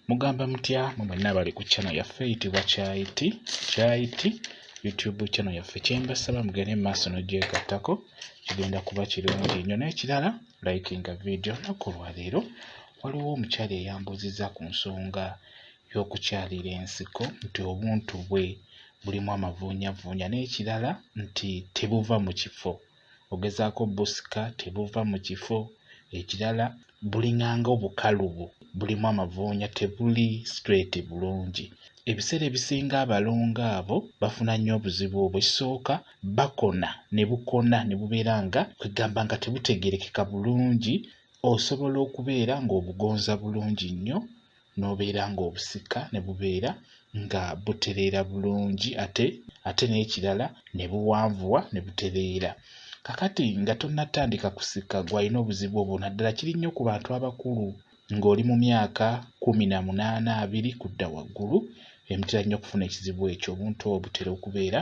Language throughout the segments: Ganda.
Mugamba mutya mu mwenna abali ku channel yaffe eyitibwa Kyayiti Kyayiti YouTube channel yaffe kyembasaba mugende mu maaso n'ogyegattako kigenda kuba kirungi nnyo n'ekirala likinga vidiyo nnaku olwaleero waliwo omukyala eyambuuzizza ku nsonga y'okukyalira ensiko nti obuntu bwe bulimu amavuunyavuunya n'ekirala nti tebuva mu kifo ogezaako busika tebuva mu kifo ekirala buling'anga obukalubu bulimu amavuunya tebuli straight bulungi ebiseera ebisinga abalongo abo bafuna nnyo obuzibu obwo ekisooka bakona ne bukona ne bubeera nga kwegamba nga tebutegeerekeka bulungi osobola okubeera ng'obugonza bulungi nnyo n'obeera ng'obusika ne bubeera nga butereera bulungi ate ate n'ekirala ne buwanvuwa ne butereera kakati nga tonnatandika kusika gwalina obuzibu obwo naddala kiri nnyo ku bantu abakulu ng'oli mu myaka kkumi na munaana abiri kudda waggulu emitera nnyo okufuna ekizibu ekyo obuntu obwo butera okubeera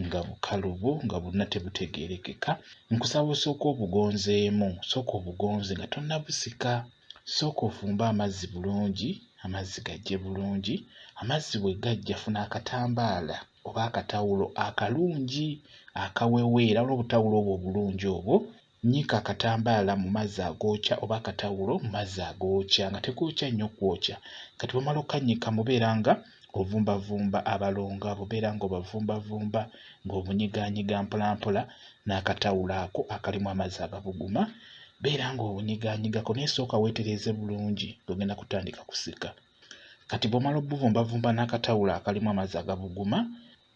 nga bukalubu nga bonna tebutegeerekeka nkusaba osooka obugonzeemu sooka obugonze nga tonnabusika Sooka ofumbe amazzi bulungi, amazzi gaggye bulungi. Amazzi bwe gaggya funa akatambaala oba akatawulo akalungi akaweweera, waliwo obutawulo obwo obulungi obwo, nnyika akatambaala mu mazzi agookya oba akatawulo mu mazzi agookya nga tegookya nnyo kwokya. Kati bw'omala okkannyika mubeera nga ng'ovumbavumba abalongo abo, obeera ng'obavumbavumba ng'obunyigaanyiga mpolampola n'akatawulo ako akalimu amazzi agabuguma, beera ng'obunyigaanyigako naye sooka weetereeze bulungi ng'ogenda kutandika kusika. Kati bw'omala obuvumbavumba n'akatawulo akalimu amazzi agabuguma,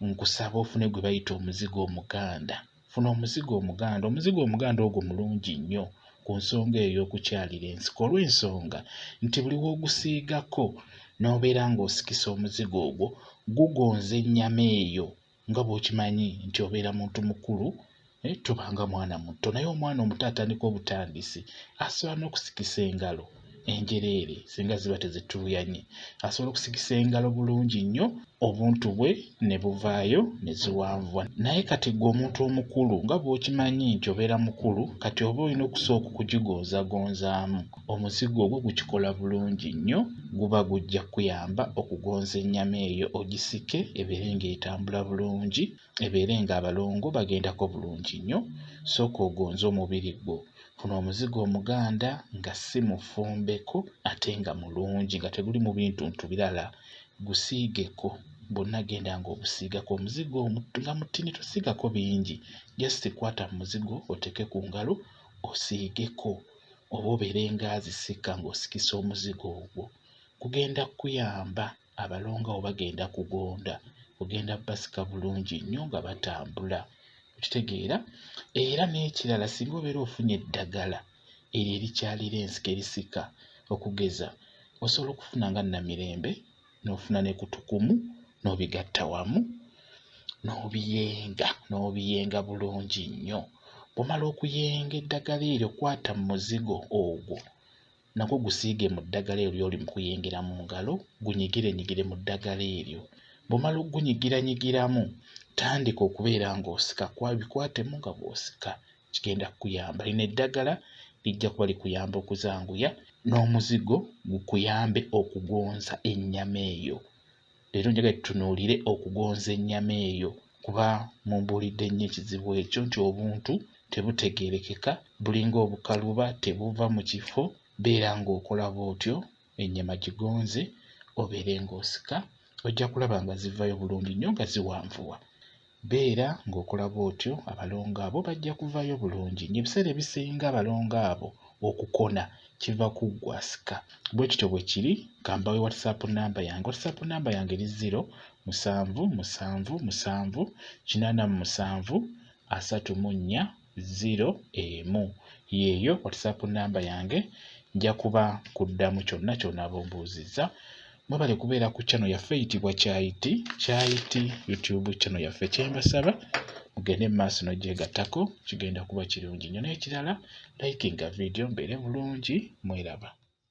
nkusaba ofune gwe bayita omuzigo omuganda funa omuzigo omuganda omuzigo omuganda ogwo mulungi nnyo ku nsonga eyo y'okukyalira ensiko olw'ensonga nti buli w'ogusiigako n'obeera ng'osikisa omuzigo ogwo gugonza ennyama eyo nga bw'okimanyi nti obeera muntu mukulu naye tobanga mwana muto naye omwana omuto atandika obutandisi asobola n'okusikisa engalo enjereere singa ziba tezituuyanye asobola okusikisa engalo bulungi nnyo obuntu bwe ne buvaayo ne ziwanvuwa naye kati gwe omuntu omukulu nga bw'okimanyi nti obeera mukulu kati oba olina okusooka okugigonzagonzaamu omuzigo ogwo gukikola bulungi nnyo guba gujja kukuyamba okugonza ennyama eyo ogisike ebeere ng'etambula bulungi ebeere nga abalongo bagendako bulungi nnyo sooka ogonze omubiri gwo funa omuzigo omuganda nga si mufumbeko ate nga mulungi nga teguli mu bintuntu birala gusiigeko bwonna genda nga obusiigako omuzigo nga mutini tosiigako bingi just kwata mu muzigo oteeke ku ngalo osiigeko oba obeere nga azisika ng'osikisa omuzigo ogwo gugenda kukuyamba abalongo abo bagenda kugonda kugenda basika bulungi nnyo nga batambula okitegeera era n'ekirala singa obeera ofunye eddagala eryo erikyalira ensika erisika okugeza osobola okufuna nga namirembe n'ofuna ne kutukumu n'obigatta wamu n'obiyenga n'obiyenga bulungi nnyo bw'omala okuyenga eddagala eryo kwata mu muzigo ogwo nagwo gusiige mu ddagala eryo ly'oli mu kuyingira mu ngalo, gunyigirenyigire mu ddagala eryo. Bw'omala okugunyigirannyigiramu, tandika okubeera ng'osika kuba bikwatemu nga bw'osika kigenda kukuyamba. Lino eddagala lijja kuba likuyamba okuzanguya n'omuzigo gukuyambe okugonza ennyama eyo. Leero njagala tutunuulire okugonza ennyama eyo kuba mumbuulidde nnyo ekizibu ekyo nti obuntu tebutegeerekeka bulinga obukaluba tebuva mu kifo beera ng'okola bw'otyo ennyama gigonze obeere ng'osika ojja kulaba nga zivaayo bulungi nnyo nga ziwanvuwa. Beera ng'okola bw'otyo, abalongo abo bajja kuvaayo bulungi. Ng'ebiseera ebisinga abalongo abo okukona kiva ku ggwe asika. Bwe kityo bwe kiri. Ka mbawe WhatsApp nnamba yange. WhatsApp nnamba yange eri 079778734. ziro emu yeeyo whatsapp namba yange nja kuba kuddamu kyonna ky'onaaba ombuuzizza mwebale kubeera ku channel yaffe eyitibwa kyayiti kyayiti youtube channel yaffe kyembasaba mugende mu maaso n'ogyegattako kigenda kuba kirungi nnyo n'ekirala likinga vidiyo mbeere bulungi mweraba